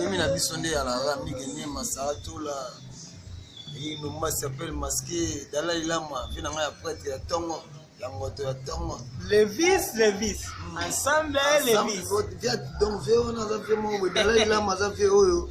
mimi na biso nde ya lara mike nie masatola inuma sapele maske dalai lama mpe na ngai ya prete ya ntongo ya moto ya ntongo levis levis hmm. ensemble levis donc vie wana aza vie moko boye dalai lama aza vie oyo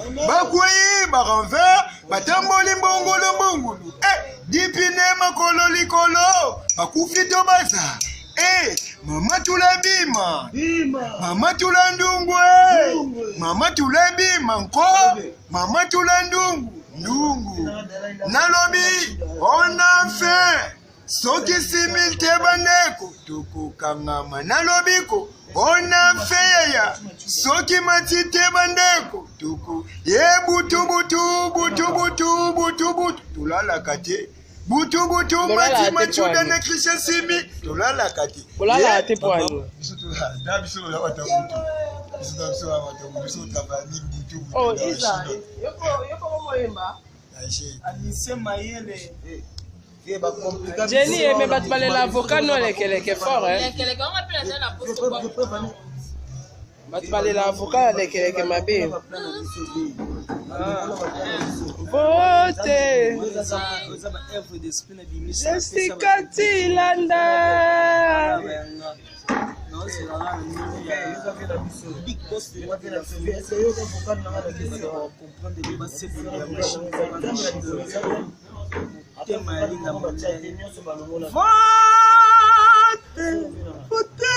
bakwei baranve batamboli mbongolo mbongolo eh, dipine makolo likolo bakufi to baza eh, mama tula bima mama tula ndungu eh. mama tula bima nko mama tula ndungu ndungu nalobi on a fait soki simil te bandeko tokokangama na lobiko ona feya soki mati te bandeko toko ye butubutu butubutu butubutu tolalaka te butubutu mati macuda na christian simi tolalaka te Oh, Isa, yoko, yoko moyemba. Anise mayele. Eh. Jenny ye mais bato balela avocat no lekeleke fort bato balela avocat ya lekeleke mabe vote jessica tilanda Big boss de moi de la famille. Est-ce que vous comprenez les bases de la machine motema ya linda motele vote vote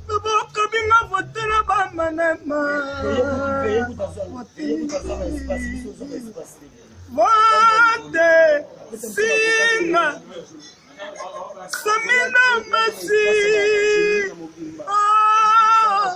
loboko binga vote na bamanema vote singa samina masi ah.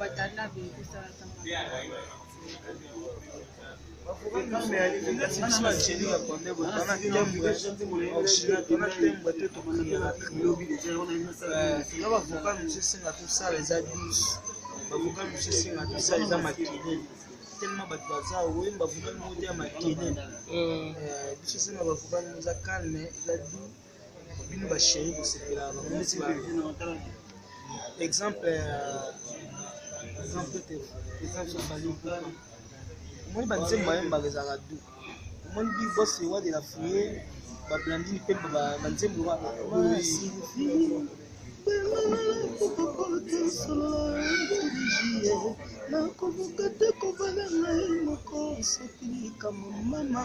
Watanabe ekosala ntango bavoka mosusu esenga tosala eza 10 bavoka mosusu esenga tosala eza makele tellement bato baza oye bavoka moko te ya makele biso esenga bavoka moza calme eza 10 bino ba chérie kosepela bamonisi ba exemple exemple te exemple fali omoni banzembo bayembaka ezalaka du omoni bi bos ewa de la fouye bablandini mpe banzembo wana nakobuka te kobala ngai moko soki likambo mama